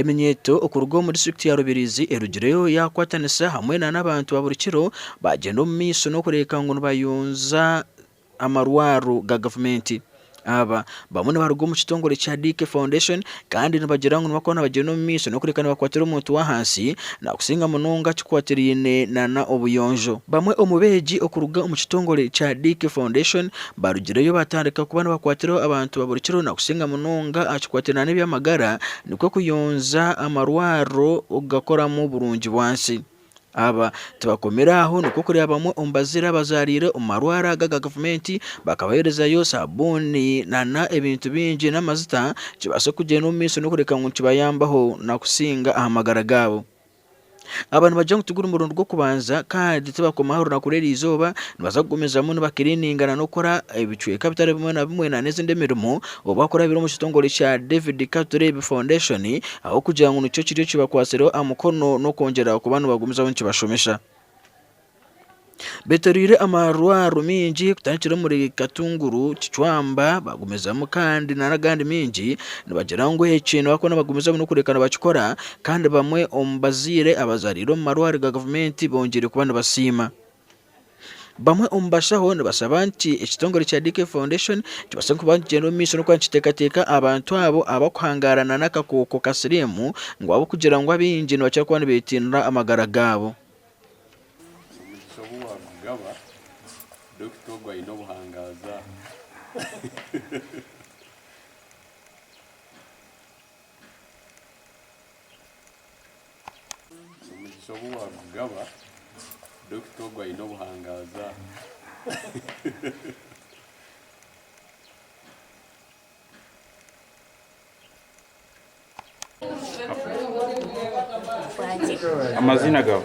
Eminyeeto okuruga omu disiturikiti ya Rubirizi erugireyo yakwatanisa hamwe nana abantu ba buri kiro bagyenda omu maisho nokureebeka ngu nibayonja amarwaro ga gavumenti. Aba bamwe nibaruga omu kitongore kya DK Foundation kandi nibagira ngu nibakuba nibagyenda omu maisho n'okureka nibakwatira omuntu w'ahansi nakusinga munonga kikwatiraine nana obuyonjo. Bamwe omu beegi okuruga omu kitongore kya Dick Foundation barugireyo batandika kuba nibakwatiraho abantu ba buri kiro nakusinga munonga aha kikwatiraine nana eby'amagara nikwo kuyonja amarwariro okugakoramu burungi bwansi. Aba tibakomire aho nikwo kureba bamwe omu bazire abazariire omu marwaro aga aga gavumenti bakabaherezayo sabuuni nana ebintu bingi n'amajuta kibaase kugyenda omu maisho n'okureka ngu nikibayambaho nakusinga aha magara gaabo. Aba nibagira ngu tiguri murundi gw'okubanza kandi tibakoma aha runaku rw'eri izooba nibaza kugumizamu nibakirininga nana okukora ebicweka bitari bimwe na bimwe nana ezindi emirimo Obu akurabira omu kitongore kya David Katureebe Foundation ahabw'okugira ngu nikyo kiriyo kibakwatsireho aha mukono n'okwongyera kuba nibagumizaho nikibashomesa. Beetoreire amarwarro maingi kutandikira omuri Katunguru, Kicwamba, bagumizamu kandi nana agandi maingi nibagira ngu eki nibakuba nibagumizamu n'okureebeka nibakikora kandi bamwe omu bazaire abazaariire omu marwariro ga gavumenti bongyeire kuba nibasiima. Bamwe omu bashaho nibashaba nti ekitongore kya DK Foundation kibaase kuba nikigyenda omu maisho n'okuba nikiteekateeka abantu abo abarikuhangaarana n'akakooko ka siriimu ngu ahabw'okugira ngu abaingi nibakira kuba nibeetinira amagara gaabo. Omugisha obu waagugaba, dokita ogwo aine obuhangaazi aha. Amazina gawe?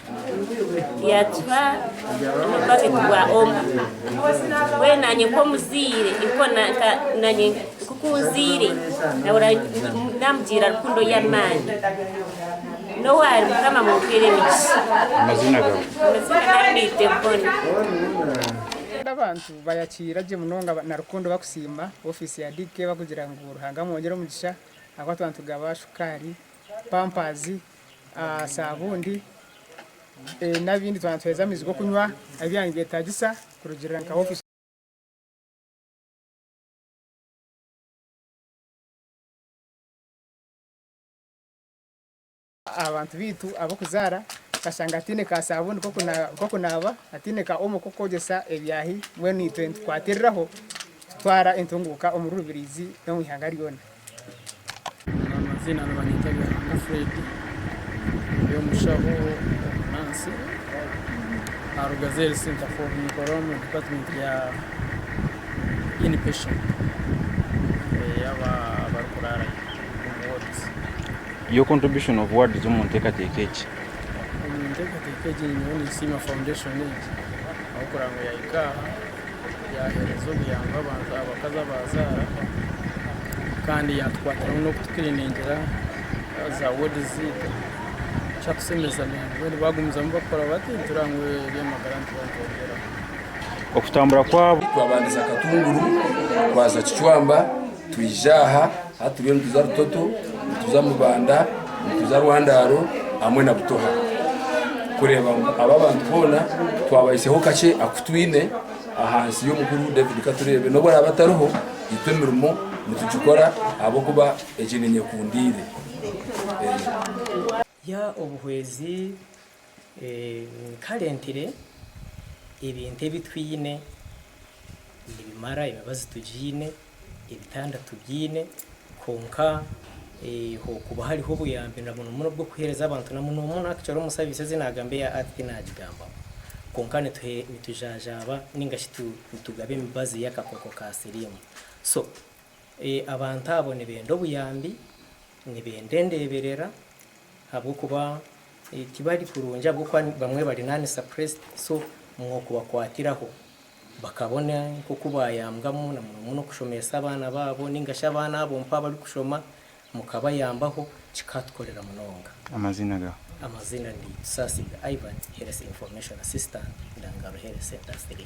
Yaatuha n'obubaketi bwa omo. Mbwenu naanye nk'omuzaire, naanye nk'oku nzaire nahurira naamugira rukundo y'amaani. Nowe ari Mukama mumumpere emigisha. Amazina gawe? Amazina gangye ni Deborah. Abantu bayakiira gye munonga na rukundo bakusiima ofiisi ya DK bakugira ngu Ruhanga amwongere omugisha ahabw'okuba tuba nitugaba shukaari pampazi, saabundi n'ebindi twaba nituheereza amaizi g'okunywa ebi byaba nibyetaagisa kurugiirira nka ofiisi. Aha bantu baitu ab'okuzaara tukashanga hataine ka saabuuni k'okunaaba, hataine ka omo k'okwegyesa ebyaahi, mbwenu itwe nitukwatiriraho kutwara entunguuka omuri Rubirizi n'omu ihanga ryona. Amazina nibanyeta Byaramba Fred ndi omushaho omunaasi aha rugaju eri Centrefor ninkora omu department ya inpatient eyaba abarikuraarayo omu wards. Your contribution of words omu nteekateeka egi. Omu nteekateeka egi nyowe ninsiima foundation egi ahabw'okuraba ngu yahika aha. yaaheereza obuyambi abantu abakazi abaazaara kandi yaatukwatiramu n'okutukiriiningira za woodi zaitu ekyatushemeeza munonga mbwenu baagumizamu bakora bati nitureeba ngu eby'amagara nitubongyeraho okutambura kwabo. Twabandiza Katunguru twaza Kicwamba. Twija aha ahu turiyo nituza Rutoto, nituza Mubanda, nituza Rwandaaro hamwe na Butoha kureeba ngu aba abantu boona twabaiseho kakye aku twine ahansi y'omukuru David Katureebe. N'obu araabe atariho, itwe emirimo nitugikora ahabw'okuba egi ni nyekundiire. Ya obuhwezi kare mpire ebintu ebi twine nibimara emibazi tugiine ebitanda tubyine kwonka hokuba hariho obuyambi na munomuno obwokuhereza abantu na munomuno actually omusabisa ezi nagamba eya earth tinagigambaho kwonka nitujanjaba ningashi nitugaba emibazi yakakooko ka sirimu so Abantu abo nibenda obuyambi, nibenda endeeberera ahabw'okuba tibari kurungi ahabw'okuba bamwe bari non-suppressed so mwokubakwatiraho bakabona nk'oku bayambwamu na muno muno kushomeesa abaana baabo nainga shi abaana abo mpaho abari kushoma mukabayambaho kikatukorera munonga. Amaziina gaawe? Amaziina ndi Tusaasigwe Ivan, Health Information Assistant, Ndangaro Health Centre 3.